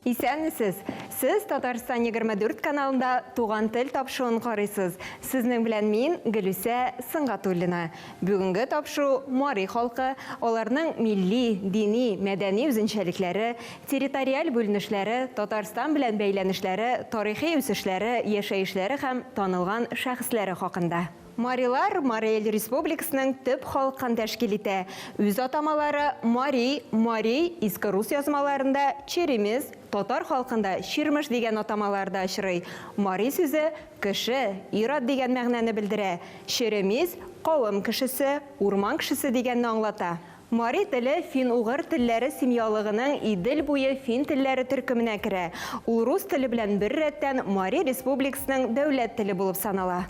Исәнмесез! Сез Татарстан 24 каналында Туган тел тапшуын карыйсыз. Сезнең белән мин, Гөлүсә Сынгатуллина. Бүгенге тапшу мари халкы, аларның милли, дини, мәдәни үзенчәлекләре, территориаль бүленешләре, Татарстан белән бәйләнешләре, тарихи үсешләре, яшәешләре һәм танылган шәхесләре хакында. Марилар Марий Эл Республикасының төп халкын тәшкил итә. Үз атамалары, Мари, Мари, иске рус язмаларында, Черемис, татар халкында Чирмеш дигән атамаларда очрый. Мари сүзе, кеше, ир-ат дигән мәгънәне белдерә. Черемис, кавым кешесе, урман кешесе дигәнне аңлата. Мари теле фин-угыр телләре семьялыгының Идел буе фин телләре төркеменә керә. Ул рус теле белән бер рәттән Мари Республикасының дәүләт теле булып санала.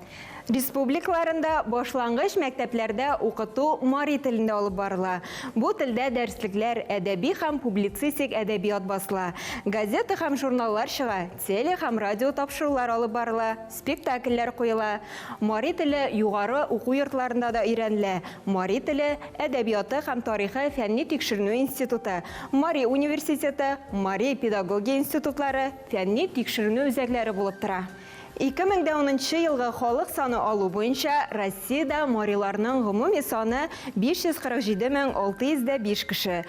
Республикаларында башлангыч мәктәпләрдә укыту мари телендә алып барыла. Бу телдә дәреслекләр, әдәби һәм публицистик әдәбият басыла, газета һәм журналлар чыга, теле һәм радио тапшырулар алып барыла. Спектакльләр куела. Мари теле югары уку йортларында да өйрәнелә, Мари теле, әдәбияты һәм тарихы фәнни-тикшеренү институты, Мари университеты, Мари педагогия институтлары фәнни-тикшеренү үзәкләре булып тора. 2010 нчы елгы халык саны алу буенча Россиядә мариларның гомуми саны 547605 кеше,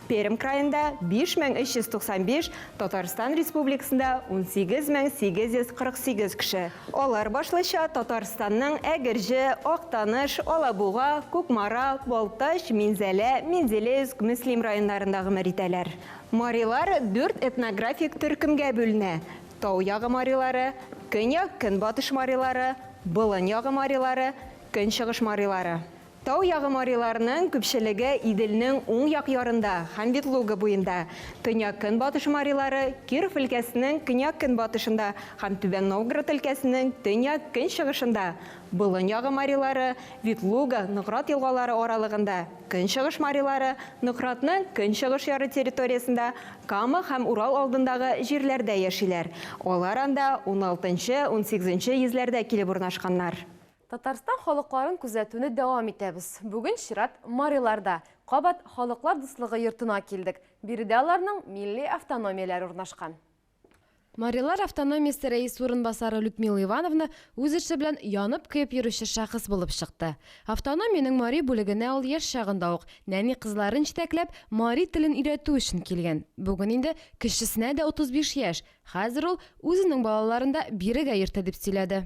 Пермь краенда, 5395, Татарстан Республикасында, 18848 кеше. Алар башлыча Татарстанның Әгерҗе, Актаныш, Алабуга, Кукмара, Балтач, Минзәлә, Менделеевск, Мөслим районнарында гомер итәләр. Марилар дүрт этнографик төркемгә бүленә, Тау ягы марилары, Көньяк-Көнбатыш марилары, Болын ягы марилары, Көнчыгыш марилары. Тау ягы мариларының күпчелеге Иделнең уң як ярында һәм Ветлуга буенда, төньяк-көнбатыш марилары Киров өлкәсенең көньяк-көнбатышында һәм Түбән Новгород өлкәсенең төньяк-көнчыгышында, Болын ягы марилары Ветлуга, Нократ елгалары аралыгында, көнчыгыш марилары Нократның көнчыгыш яры территориясендә, Кама һәм Урал алдындагы җирләрдә яшиләр, алар анда уналтынчы-унсигезенче йөзләрдә килеп урнашканнар. Татарстан халыкларын күзәтүне дәвам итәбез. Бүген чират мариларда. Кабат Халыклар дуслыгы йортына килдек. Биредә аларның милли автономияләре урнашкан. Марилар автономиясе рәисе урынбасары Людмила Ивановна үз эше белән янып-көеп йөрүче шәхес булып чыкты. Автономиянең мари бүлегенә ул яшь чагында ук, нәни кызларын җитәкләп, мари телен өйрәтү өчен килгән. Бүген инде кечесенә дә 35 яшь. Хәзер ул үзенең балаларын да бирегә йөртә, дип сөйләде.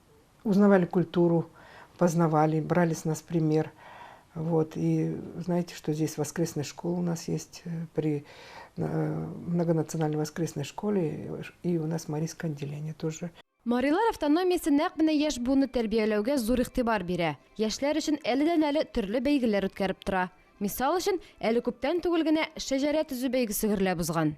узнавали культуру, познавали, брали с нас пример. Вот, и знаете, что здесь воскресная школа у нас есть э, при э, многонациональной воскресной школе, и у нас Марийское отделение тоже. Марилар автономиясе нәкъ менә яшь буынны тәрбияләүгә зур игътибар бирә. Яшьләр өчен әледән-әле төрле бәйгеләр үткәреп тора. Мисал өчен, әле күптән түгел генә шәҗәрә төзү бәйгесе гөрләп узган.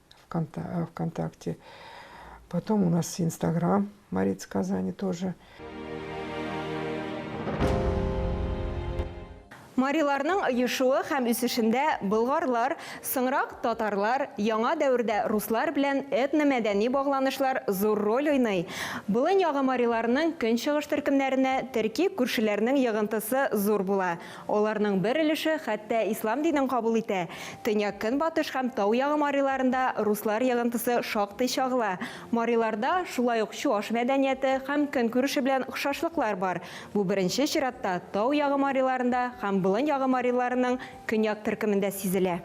Вконта ВКонтакте. Потом у нас Инстаграм Мариц Казани тоже. Мариларның оешуы һәм үсешендә болгарлар, соңрак татарлар, яңа дәвердә руслар белән этномәдәни багланышлар зур роль уйный. Болын ягы мариларының көнчыгыш төркемнәренә төрки күршеләрнең йыгынтысы зур була. Аларның бер өлеше хәтта ислам динен кабул итә. Төньяк-көнбатыш һәм тау ягы мариларында руслар йыгынтысы шактый чагыла. Мариларда шулай ук чуаш мәдәнияте һәм көнкүреше белән охшашлыклар бар, бу беренче чиратта тау ягы мариларында һәм болын ягы мариларының көньяк төркемендә сизелә.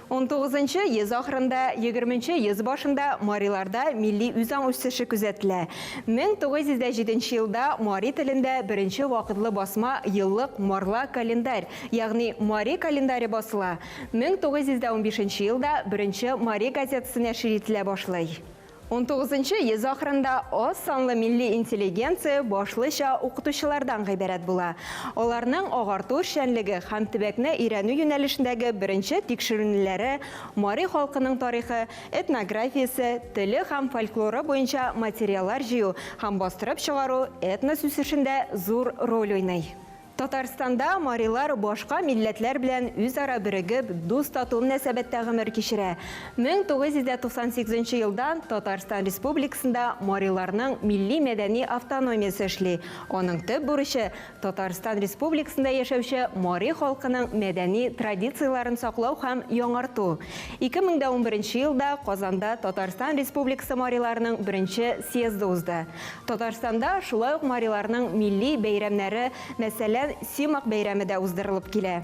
Унтугызынчы йөз ахырында, егерменче йөз башында мариларда милли үзаң үсеше күзәтелә. Мең тугыз йөз дә җиденче елда мари телендә беренче вакытлы басма еллык марла календарь, ягъни мари календаре басыла, мең тугыз йөз дә унбишенче елда беренче мари газетасы нәшер ителә башлый. Унтугызынчы йөз ахырында аз санлы милли интеллигенция башлыча укытучылардан гыйбарәт була. Аларның агарту эшчәнлеге һәм төбәкне өйрәнү юнәлешендәге беренче тикшеренүләре мари халкының тарихы, этнографиясе, теле һәм фольклоры буенча материаллар җыю һәм бастырып чыгару этнос үсешендә зур роль уйный. Татарстанда марилар башка милләтләр белән үзара берегеп, дус-тату мөнәсәбәттә гомер кичерә. 1998 елдан Татарстан Республикасында мариларның милли-мәдәни автономиясе эшли, аның төп бурычы, Татарстан Республикасында яшәүче мари халкының мәдәни традицияләрен саклау һәм яңарту. 2011 елда Казанда Татарстан Республикасы мариларының беренче съезды узды. Татарстанда шулай ук мариларның милли бәйрәмнәре, мәсәлән, Симак бәйрәме дә уздырылып килә.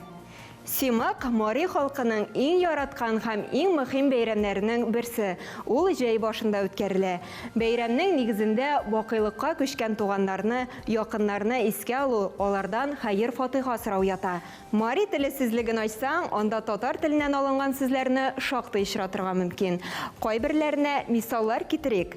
Симак, мари халкының иң яраткан һәм иң мөхим бәйрәмнәренең берсе, ул җәй башында үткәрелә. Бәйрәмнең нигезендә бакыйлыкка күчкән туганнарны, якыннарны искә алу, алардан хәер-фатыйха сорау ята. Мари теле сүзлеген ачсаң, анда татар теленнән алынган сүзләрне шактый очратырга мөмкин. Кайберләренә мисаллар китерик.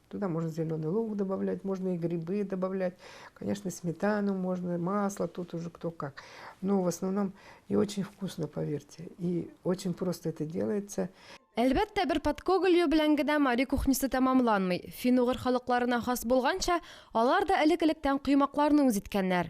Туда можно зеленый лук добавлять, можно и грибы добавлять. Конечно, сметану можно, масло, тут уже кто как. Но в основном и очень вкусно, поверьте. И очень просто это делается. Әлбәттә, бер подкогылью белән генә мари кухнясы тәмамланмый. Фин-угыр халыкларына хас булганча, алар да элек-электән коймакларны үз иткәннәр.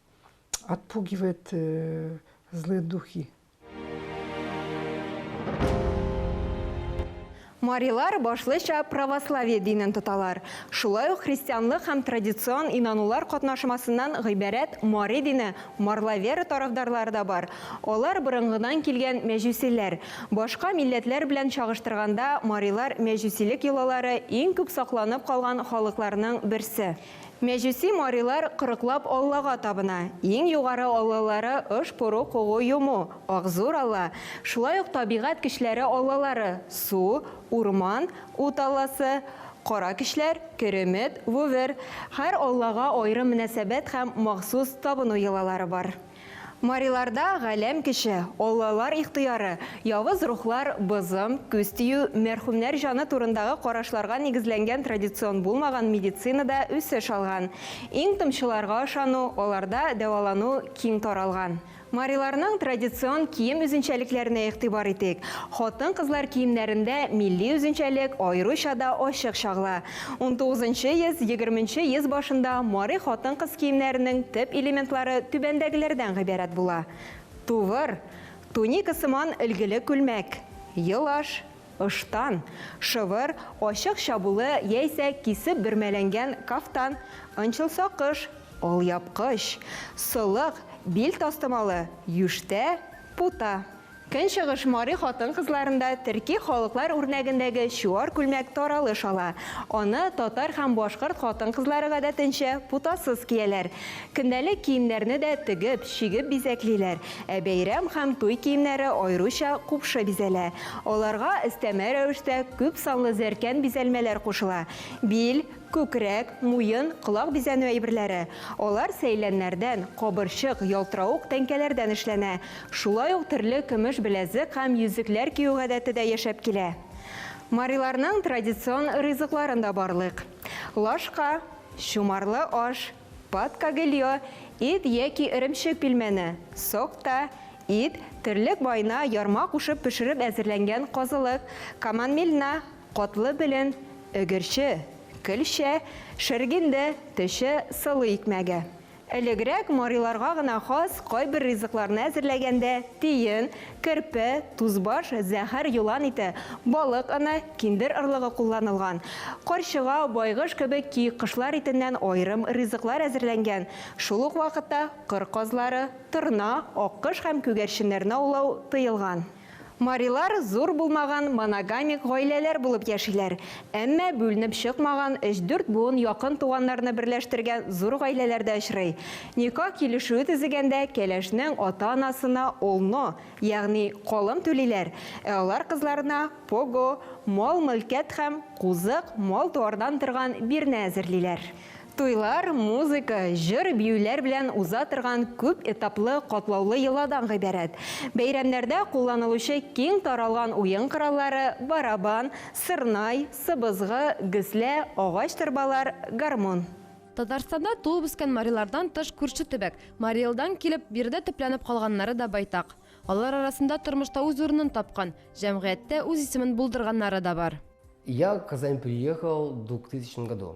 отпугивает э, злые духи. Марилар башлыча православие динен тоталар. Шулай ук христианлык һәм традицион инанулар катнашмасыннан гыйбарәт мари дине марлавера тарафдарлары да бар. Алар борынгыдан килгән мәҗүсиләр. Башка милләтләр белән чагыштырганда, марилар мәҗүсилек йолалары иң күп сакланып калган халыкларның берсе. Мәҗүси марилар кырыклап аллага табына. Иң югары аллалары ыш пору когу йому, акзур алла, шулай ук табигать көчләре аллалары, су, урман, ут алласы, кара көчләр, керемет, вувер. Һәр аллага аерым мөнәсәбәт һәм махсус табыну йолалары бар. Мариларда галәм кеше, аллалар ихтыяры, явыз рухлар, бозым, күз тию, мәрхүмнәр җаны турындагы карашларга нигезләнгән традицион булмаган медицина да үсеш алган. Иң томчыларга ышану, аларда дәвалану киң таралган. Мариларның традицион кием үзенчәлекләренә игътибар итик. Хатын-кызлар киемнәрендә милли үзенчәлек аеруча да ачык чагыла. Унтугызынчы йөз, егерменче йөз башында мари хатын-кыз киемнәренең төп элементлары түбәндәгеләрдән гыйбарәт була, тувыр, туника сыман өлгеле күлмәк, йолаш, ыштан, шыбыр, ачык чабулы яисә кисеп бөрмәләнгән кафтан, ончыл сакыш, алъяпкыч, солык, бил тастымалы, юштә, пута. Көнчыгыш мари хатын-кызларында төрки халыклар үрнәгендәге чуар күлмәк таралыш ала. Аны татар һәм башкорт хатын-кызлары гадәтенчә путасыз кияләр. Көндәлек киемнәрне дә тегеп, чигеп бизәклиләр, ә бәйрәм һәм туй киемнәре аеруча купшы бизәлә. Аларга өстәмә рәвештә күп санлы зәркән бизәлмәләр кушыла, бил, Күкрәк, муен, колак бизәнү әйберләре. Алар сәйләннәрдән, кабырчык, ялтыравык тәңкәләрдән эшләнә. Шулай ук төрле көмеш беләзек һәм йөзекләр кию гадәте дә яшәп килә. Мариларның традицион ризыкларын да барлыйк. Лашка, чумарлы аш, пат-кагельо, ит яки эремчек пилмәне, сокта, ит, терлек майына ярма кушып пешереп әзерләнгән казылык, каманмельна, Котлы белен, Өгерче, Көлчә, Шергенде, Төче, Сылу икмәге. Элегрәк мариларга гына хас кайбер ризыкларны әзерләгәндә тиен, керпе, тузбаш, зәһәр елан ите, балык оны, киндер орлыгы кулланылган. Карчыга, байгыш кебек ки кошлар итеннән аерым ризыклар әзерләнгән. Шул ук вакытта кыр казлары, торна, аккош һәм күгәрченнәрне аулау тыелган. Марилар зур булмаган моногамик гаиләләр булып яшиләр, әмма бүленеп чыкмаган өч-дүрт буын якын туганнарны берләштергән зур гаиләләр дә очрый. Никах килешүе төзегәндә кәләшнең ата-анасына олно, ягъни колым түлиләр, ә алар кызларына пого, мал-мөлкәт һәм кузык, мал-туардан торган бирнә әзерлиләр. Туйлар, музыка, җыр-биюләр белән уза торган күп этаплы, катлаулы йоладан гыйбарәт. Бәйрәмнәрдә кулланылучы киң таралган уен кораллары, барабан, сырнай, сыбызгы, гөслә, агач торбалар, гармун. Татарстанда туып-үскән марилардан тыш күрше төбәк, Мари Элдан килеп, биредә төпләнеп калганнары да байтак. Алар арасында тормышта үз урынын тапкан, җәмгыятьтә үз исемен булдырганнары да бар. Я Казань приехал в двух тысячном году.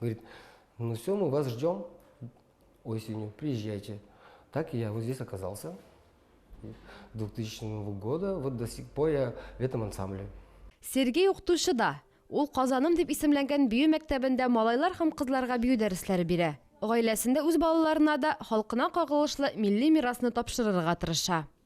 Говорит, ну все, мы вас ждем осенью, приезжайте. Так я вот здесь оказался. 2000 года, вот до сих пор я в этом ансамбле. Сергей укытучы да. Ул Казаным дип исемләнгән бию мәктәбендә малайлар һәм кызларга бию дәресләре бирә. Гаиләсендә үз балаларына да халкына кагылышлы милли мирасны тапшырырга тырыша.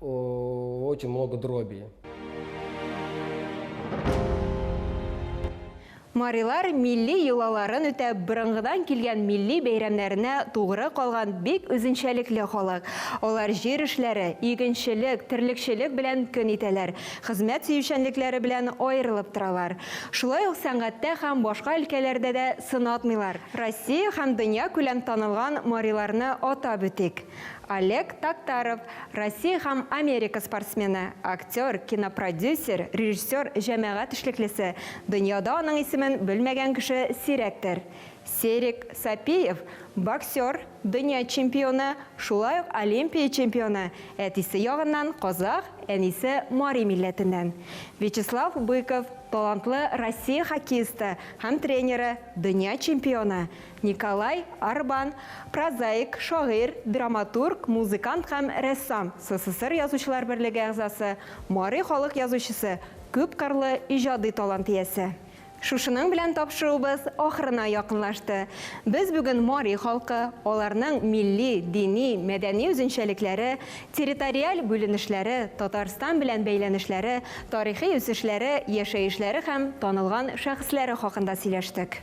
Очень много дроби. Марилар милли йолаларын үтәп, борынгыдан килгән милли бәйрәмнәренә тугры калган бик үзенчәлекле халык. Алар җир эшләре, игенчелек, терлекчелек белән көн итәләр, хезмәт сөючәнлекләре белән аерылып торалар. Шулай ук сәнгатьтә һәм башка өлкәләрдә дә сынатмыйлар. Россия һәм дөньякүләм танылган мариларны атап үтик. Олег Токтаров, Россия һәм Америка спортсмены, актер, кинопродюсер, режиссер, җәмәгать эшлеклесе, дөньяда аның исемен белмәгән кеше сирәктер. Серик Сапиев, боксер, дөнья чемпионы, шулай ук Олимпия чемпионы, әтисе ягыннан казах, әнисе мари милләтеннән. Вячеслав Быков, талантлы Россия хоккеисты һәм тренеры, дөнья чемпионы, Николай Арбан, прозаик, шагыйрь, драматург, музыкант һәм рәссам, СССР Язучылар берлеге әгъзасы, мари халык язучысы, күпкырлы иҗади талант иясе. Шушының белән тапшыруыбыз ахырына якынлашты. Без бүген мари халкы, аларның милли, дини, мәдәни үзенчәлекләре, территориаль бүленешләре, Татарстан белән бәйләнешләре, тарихи үсешләре, яшәешләре һәм танылган шәхесләре хакында сөйләштек.